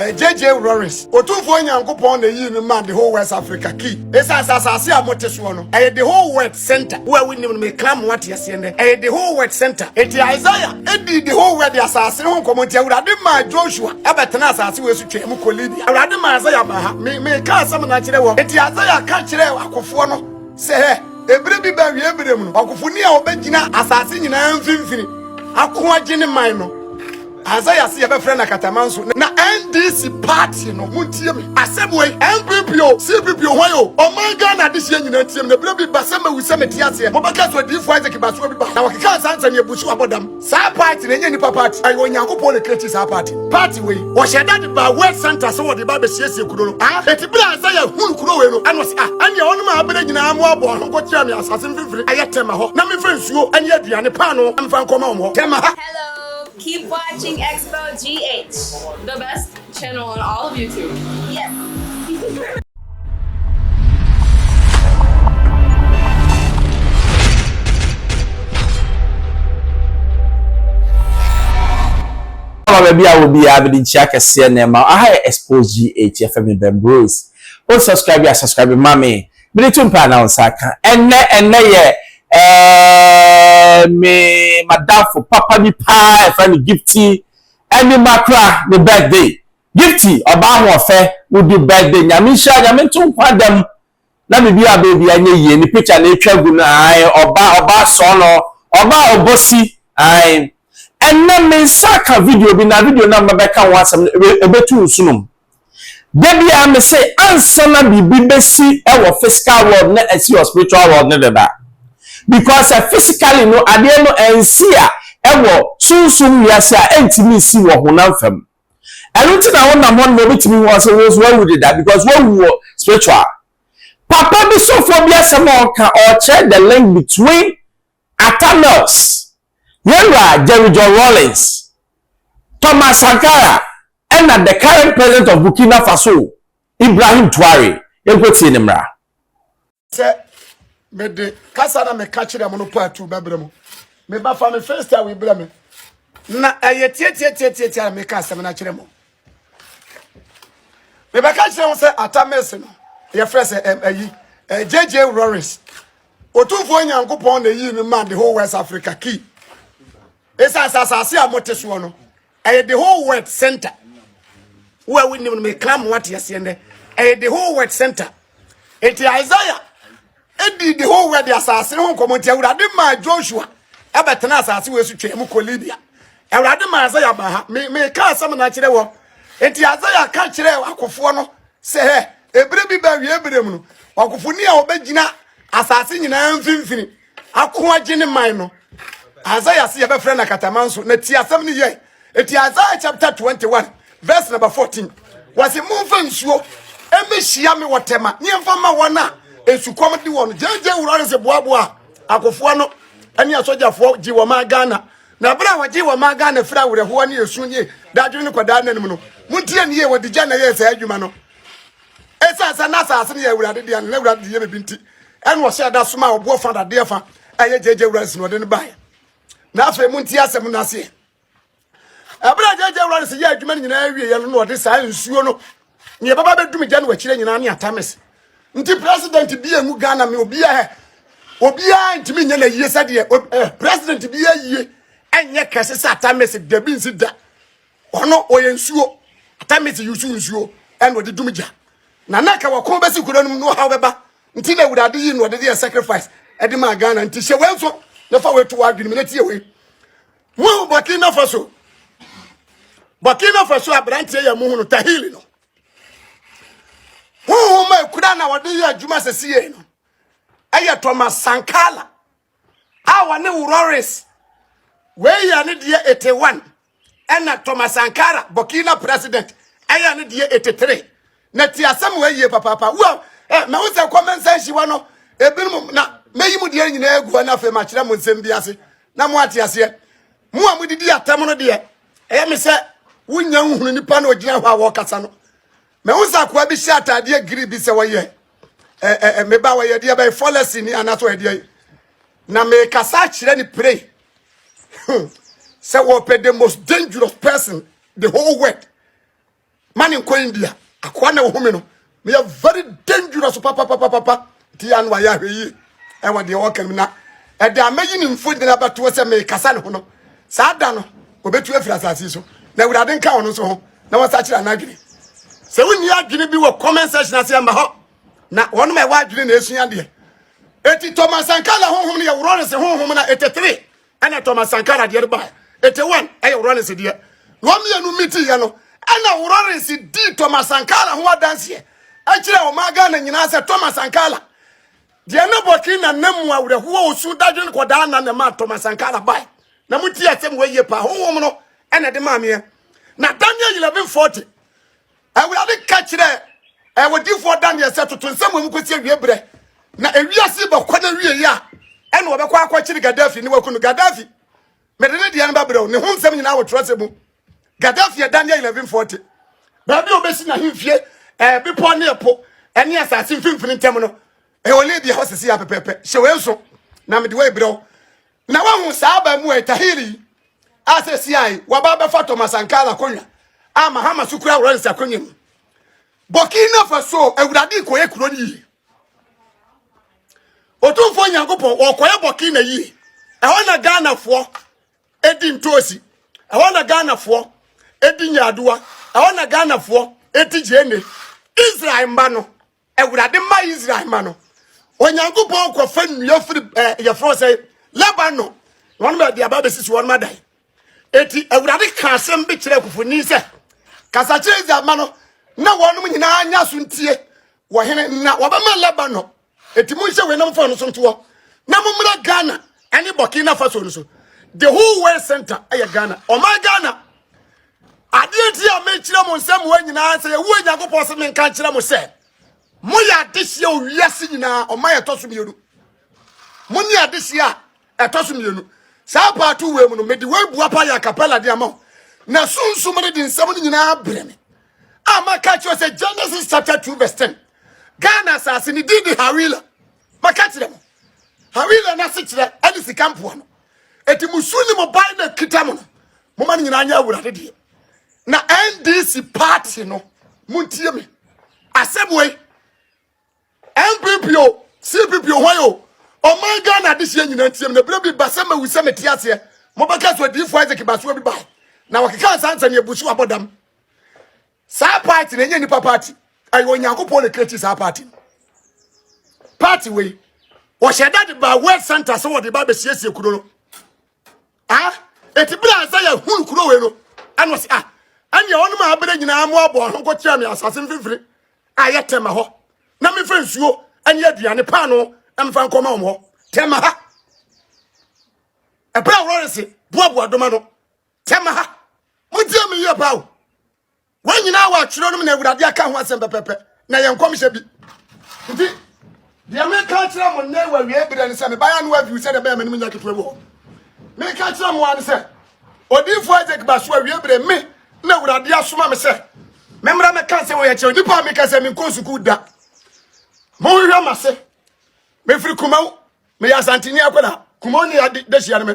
JJ Lawrence, Otumfoɔ Nyankopɔn na eyii me maa The Whole West Africa, ki. Esiane sɛ asase a mote soɔ no, ɛyɛ The Whole Word Center, wo a wonnim no, meka ama woate aseɛ nnɛ, ɛyɛ The Whole Word Center. Enti Isaiah dii The Whole Word asase no ho nkɔmmɔ, enti Awurade maa Joshua bɛtenaa asase wei so twaa mu kɔɔ Libya. Awurade maa Isaiah baa ha. Me, meka asɛm no akyerɛ wɔ. Enti Isaiah ka kyerɛɛ akofoɔ no sɛ, Hɛ, ebire bi ba awie berɛ mu no, ɔkofoni a ɔbɛgyina asase nyinaa mfimfini ako agye ne man no. Asae ase yɛbɛfrɛ no akatamanso na NDC party no montie me asɛm wei NPP o CPP o hwan o ɔman Ghana adehyeɛ nyinaa ntie me na berɛ bi ba sɛ mawu sɛ mete aseɛ mobɛka so odiifo Isaac Basoa bi ba na wɔkekaa saa nsɛm yɛbu so abɔ dam saa party no ɛnyɛ nnipa party ɛyɛ Onyankopɔn na ɛkreati saa party no party wei wɔhyɛ da de baa word center sɛ wɔde ba bɛsiesie kuro no ah ɛti berɛ a Isaiah hunu kuro wei no ɛna ɔse ah ɛneɛ ɔnom a abɛrɛ nyinaa mo abɔ ɔho kɔkyerɛ me asase mfimfini ɛyɛ tɛma hɔ na mefa nsuo ɛne aduane paano mfa nkɔma wɔn hɔ tɛma ha Keep watching Expo GH, the best channel on all of YouTube. Yes. baabi a obi a bɛde nkyia kɛseɛ na ɛma aha yɛ expose gh yɛfɛ me bɛn bros o subscribe a subscribe ma me mede to mpaa na wo nsa aka ɛnɛ ɛnɛ yɛ ɛɛ me madamfo papa bi paa ɛfrɛ no gifti ɛne makora ne birthday gifti ɔbaa ho ɔfɛ wodi birthday nyame nhyira nyame nto nkwa da mu na biribi a baabi anyɛ yie ne picture na atwa gu no ae ɔba ɔba sɔɔ no ɔba ɔbɔsi ae ɛnɛ me nsa aka video bi na video no a mabɛka ho asɛm no ɛbɛtu nsunom Dabiaa me se ansana biribi bɛsi wɔ physical world na asi wɔ spiritual world no deda because sɛ physically no adeɛ no ansi a ɛwɔ sunsum wiase a ɛntumi nsi wɔ honam fam ɛno nti na wonam hɔ no ma obɛtumi hu ɔse wo nso wawu deda because wawu wɔ spiritual papa bi sɔfoɔ bi asɛm a ɔka ɔkyerɛ the link between Arthur Knox, Yɛn Wura Jerry John Rawlings, Thomas Sankara ɛna the current president of Burkina Faso Ibrahim Traore. Yɛnkɔ tie ne mmara. Sɛ mede kasa na meka kyerɛ mo no part two bɛbrɛ mo. Mebafa me first a webrɛ me. Na ɛyɛ tiatiatiatiatia na meka asɛm no akyerɛ mo. Mebɛka kyerɛ mo sɛ atamese no yɛfrɛ sɛ ɛm ayi JJ Lawrence. Otumfoɔ Nyankopɔn na yii me maa the whole West Africa key. Ɛsɛ asɛ asase a mote soɔ no, ɛyɛ the whole world center. Wo a wonim no meka mo ate aseɛ nnɛ. Ɛyɛ the whole world center. Enti Isaiah ɛdi the whole world asase ho nkɔmmɔ nti Awurade maa Joshua ɛbɛtena asase wɔ so twɛn mu kɔ Libya. Awurade maa Isaiah baa ha. Meka asɛm no akyerɛ wɔ. Enti Isaiah ka kyerɛ akofoɔ no Sɛ hɛ, ebire bi bɛ wie bire mu no, ɔkofo ni a ɔbɛgyina asase nyinaa mfimfini ako agye ne man no. Isaiah se yɛbɛfrɛ no akataman so, na ti asɛm no yɛe. Eti Isaiah chapter 21 verse number 14, wɔse momfa nsuo ɛmɛhyia me wɔ tɛma ne ɛmfa ma wɔn a esukɔm de wɔn. Gyegye wura no se boaboa akofoɔ no ɛne asogyafoɔ gye wɔn a Ghana Na bere a wɔgyee wɔn maa Ghana firi awerɛhoɔ ne esu ne dadwene ne kɔdaa nna no mu no, montie no yie, wɔde gya na ɛyɛɛ saa adwuma no. Ɛsiane sɛ na asase no yɛ Awurade dea no, na Awurade de yɛ baabi nti, ɛna ɔhyɛɛ da somaa ɔboɔ fa dadeɛ fa a ɛyɛ gyagya Awurade na ɔde no baeɛ. Na afei montie asɛm no aseɛ. Ɛberɛ a gyagya Awurade yɛ adwuma no nyinaa wieɛ no na ɔde saa nsuo no Nea ɛbɛba bɛdu me gya no akyire nyinaa ne atames nti president bi emu Ghana me obiara obiara ntumi nyɛ n'ayie sɛdeɛ ob- eh, president bi ayie ɛnyɛ kɛse sɛ atames dabi nsi da ɔno ɔyɛ nsuo atames yusu nsuo ɛna ɔde dum gya na na ka wɔko bɛsi kuro no mu na ɔhaw bɛba nti na awurade yi na ɔde deɛ sacrifice ɛde maa Ghana nti hyɛ wei nso na fa wei to w'adwene mu na tie wei Mohu Burkina Faso. Burkina Faso aberanteɛ yɛ mohu no Tahili no. Honhom a ɛkura na wɔde yɛ adwuma sɛ sie no ɛyɛ Thomas Sankala a wɔne Wurores wei yɛ ne deɛ 81 ɛna Thomas Sankara Burkina president ɛyɛ ne deɛ 83 na ti asɛm wɔ yie papaapa wo eh, ma wo sɛ comment section hɔ no ebinom na mɛyi mu deɛ nyinaa agu hɔ na afei makyerɛ mo nsɛm bi ase na mo ate aseɛ mo a modidi atɛm no deɛ ɛyɛ me sɛ wonya wohunu nipa na ɔgyina hɔ a wɔkasa no ma wo sɛ akoa bi hyɛ ataadeɛ giri bi sɛ wɔyɛ eh, eh, eh, meba wɔyɛ deɛ bɛyɛ fɔlɛsi ni anaso ɛdeɛ na mekasa akyerɛ ne pray hmm. sɛ wɔpɛ the most dangerous person the whole world ma ne nkɔ india akoa na ohome no meyɛ very dangerous papapapapa nti yɛ ano ayɛ ahwɛ yie ɛwɔ deɛ ɔka mu na ɛde amɛyi ne mfonyini abɛtoɔ sɛ mekasa ne ho no saa da no ɔbɛtu afiri asase so na awurade nka ɔno nso ho na wɔsa kyerɛ anadwene sɛ wonni adwene bi wɔ comment section ase ɛmma hɔ na wɔnom ɛwɔ adwene na ɛsua deɛ ɛti tɔmasankala honhom no yɛworɔ no se honhom no ɛtetere ɛna Thomas Sankara deɛ ba ete one ɛyɛ Lawrence deɛ na wɔn mmienu miti yɛ no ɛna Lawrence di Thomas Sankara ho adanseɛ ɛkyerɛ wɔn aga na nyinaa sɛ Thomas Sankara deɛ na bɔkii na nam mu awerɛhoɔ osu dadwen kɔdaa na na ma Thomas Sankara ba na mo ti asɛm wɔ yie paa honhom no ɛna de maameɛ na Daniel 1140 Awurade ka kyerɛɛ ɛwɔdifoɔ Daniel sɛ toto nsɛm wɔ mu kɔsi awie berɛ na ewiase bɛkɔ no awieɛ a ɛna wɔbɛkɔ akɔkyere Gaddafi ne waku no Gaddafi mede ne deɛ no bɛbrɛw ne ho nsɛm nyinaa wɔ twerɛsɛ mu Gaddafi yɛ Daniel 1140 baabi a wɔbɛsi n'ahemfie ɛɛ bepɔ ne ɛpo ɛne asase mfimfini ntam no ɛwɔ Libya hɔ sisi apɛpɛpɛ hyɛ wei nso na mede wei brɛw Na wahu saa abaamuwa Tahiri yi a sesia yi waba abɛfa Thomas Sankara akonnwa a Mahama so kura Lawrence akonnwa mu. Burkina Faso awurade kɔyɛ kuro no yie. Otumfoɔ Nyankopɔn wɔkɔyɛ Burkina yie. Ɛhɔ na Ghanafoɔ ɛdi ntoosi. Ɛhɔ na Ghanafoɔ ɛdi nyaadoa. Ɛhɔ na Ghanafoɔ ɛti gyeene. Israel mma no. Awurade ma Israel ma no Onyankopɔn kɔfa nnua firi eh, yɛfrɛ sɛ Lebanon na wɔn baabi aba bɛsisi wɔn adan eti Awurade ka asɛm bi kyerɛ akufoni sɛ kasa kyerɛ Israel ma no na wɔnom nyinaa nya so ntie wɔ hene na wɔbɛma Lebanon eti monhyɛ wenam fɔɔ no so ntoɔ na mommra Ghana ne Burkina Faso no so the whole world center ɛyɛ Ghana ɔman Ghana adeɛ nti a mekyerɛ mo nsɛm wɔ nyinaa sɛ yɛwu onyankopɔn sɛ menka nkyerɛ mo sɛ moyɛ adehyeɛ wɔ wiase nyinaa ɔma yɛtɔ so mmienu mo ne adehyeɛ a ɛtɔ so mmienu saa paato wei mu no mede wei bua pa yɛ akapɛla de ama wo na sunsum no de nsɛm no nyinaa brɛ me a maka kyerɛ sɛ genesis chapter 2 verse 10 ghana asase ne din de hawila Maka kyerɛ mo, Hawila no ase kyerɛ ɛne sika mpoa no. Eti mo su ne mo ban na kita mo no, mo ma no nyinaa nyɛ awurade deɛ. Na NDC party no, mo ntie me. Asɛm wei, NPP o, CPP o, hwan o, ɔman Ghana adehyeɛ nyinaa ntie me. Na ebire bi ba sɛ mawu sɛ mete aseɛ, mobɛka so adiyifoɔ Isaac Basuo bi bae. Na wɔkeka nsa nsɛm yɛ busu abɔdam. Saa party na enye nipa party. Ayo Onyankopɔn na create saa party. Party we. Wɔhyɛ da de ba word center sɛ wɔde ba bɛsiesie kuro no. Ah, ɛti bere a sɛ yɛhunu kuro wei no, ɛno sɛ ah, ɛneɛ ɔnom a abere nyinaa mo abɔ ɔho kɔkyerɛ me asase mfimfini a yɛ tɛma hɔ na mefa nsuo ne aduane paano mfa nkɔma wɔn hɔ tɛma ha ɛberɛ a wɔrese boaboa doma no Tɛm ha. Motie me yie paa o. Wɔn nyinaa wɔ atwerɛ no mu na Awurade aka ho asɛm pɛpɛpɛ na yɛ nkɔmhyɛ bi. Nti, deɛ meka akyerɛ mo nnɛ wɔ awie berɛ no sɛ mebaeɛ ano aviw sɛdeɛ ɛbɛyɛ m'anim nya ketewa bi hɔ. Meka kyerɛ mo ara no sɛ odiyifoɔ Isaac ba so awie berɛ me na Awurade asoma me sɛ memmra mɛka sɛ wɔyɛ kyerɛ nnipa a meka sɛ menkɔ sukuu da. Monhwehwɛ m'ase. Mefiri Kumau. meyɛ asanteni akwadaa kumɔn ne yɛde da hyia no me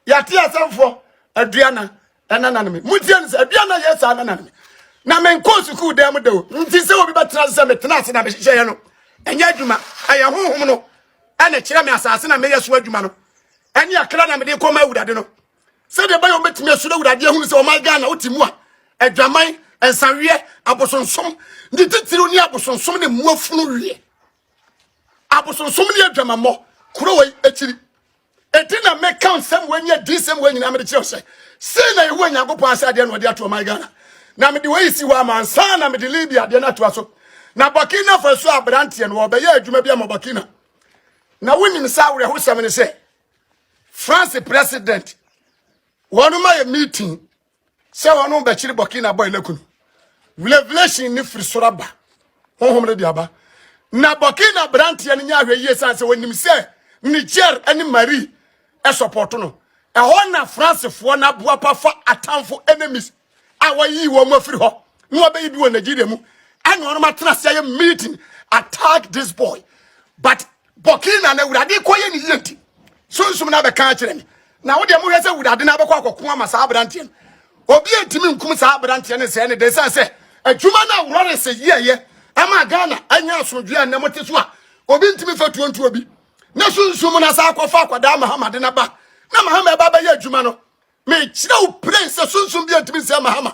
yɛate asɛmfoɔ aduana ɛna nane me motie no sɛ aduana yɛ saa na nane me na menkɔ sukuu dan mu da o nti sɛ obi bɛtena ase sɛ metena ase na mehyehyɛeɛ no ɛnyɛ adwuma ɛyɛ honhom no ɛne kyerɛ me asase na meyɛ so adwuma no ɛne akra na mede kɔma awurade no sɛdeɛ ɛbɛyɛ wɔbɛtumi asuro awurade ahunu sɛ ɔman ghana wote mu a adwaman nsaweɛ abosonsom ne titiriw ne abosonsom ne mmoafunu wie abosonsom ne adwamammɔ kuro wei akyiri ɛti na meka nsɛm wei nyɛ di nsɛm wei nyinaa mede kyerɛ sɛ sei na ɛwɔ nyankopɔn ase adeɛ na ɔde ato ɔman ghana na mede wei si hɔ ama nsa na mede libya adeɛ no atoa so na burkina faso aberanteɛ no wɔbɛyɛ adwuma bi ama burkina na wonim sɛ awerɛhosɛm ne sɛ france president wɔn ma yɛ meeting sɛ wɔn no bɛkyere burkina boy no akunu revelation ne firi soro aba honhom no de aba na burkina branteɛ no nyɛ ahwɛ yie san sɛ wɔnim sɛ niger ne marie ɛsɔpɔto no ɛhɔ na francefoɔ no aboa pa fa atamfo enemies a wɔyi wɔn afiri hɔ na wɔbɛyi bi wɔ nigeria mu ɛna wɔn atena ase ayɛ meeting attack this boy but Bɔkee na na awurade kɔ yɛ ne yie nti sunsum no abɛka akyerɛ me na wodeɛ mohwɛ sɛ awurade no abɛkɔ akɔko ama saa aberanteɛ no obi ntumi nkum saa aberanteɛ no sɛɛ ne de sɛ sɛ adwuma no a wɔre sɛ yɛɛyɛ ama ghana anya asomdwoe a nnɛ mote so a obi ntumi fa tuo ntuo bi na sunsum no asa akɔfa akwadaa mahamade no ba na mahama ɛba bɛyɛ adwuma no mekyerɛ wo plen sɛ sunsum bi antumi nsɛ mahama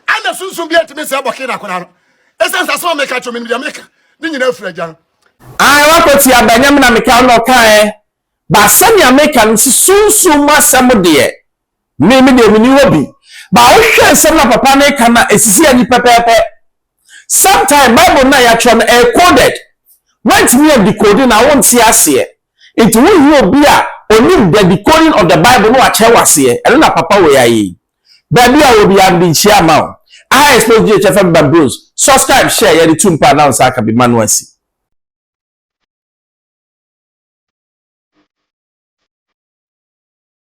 ana sunsum bi antumi nsɛ bɔke na akora no ɛsiane sɛ asɛm a meka kyerɛ me deɛ meka ne nyinaa afiri agya no ae wakɔti aba nyame na meka wo na ɔkaɛ ba sɛnea meka no si sunsum mu asɛm deɛ me me deɛ meni hɔ bi ba wohwɛ nsɛm na papa no ka na ɛsisi ani pɛpɛɛpɛ Sometime Bible no a yɛatwerɛ no ɛyɛ coded. Woantumi andikode no a wonte aseɛ. Nti wohia obi a ɔnim the decoding of the Bible na wakyerɛ wo aseɛ. Ɛno na papa wei ayɛ yi. Baabi a wɔ biara mede nkyia ama wo. Aha Express GH FM ba Bros. Subscribe, share, yɛde tu mpaa na wo nsa aka bi ma no asi.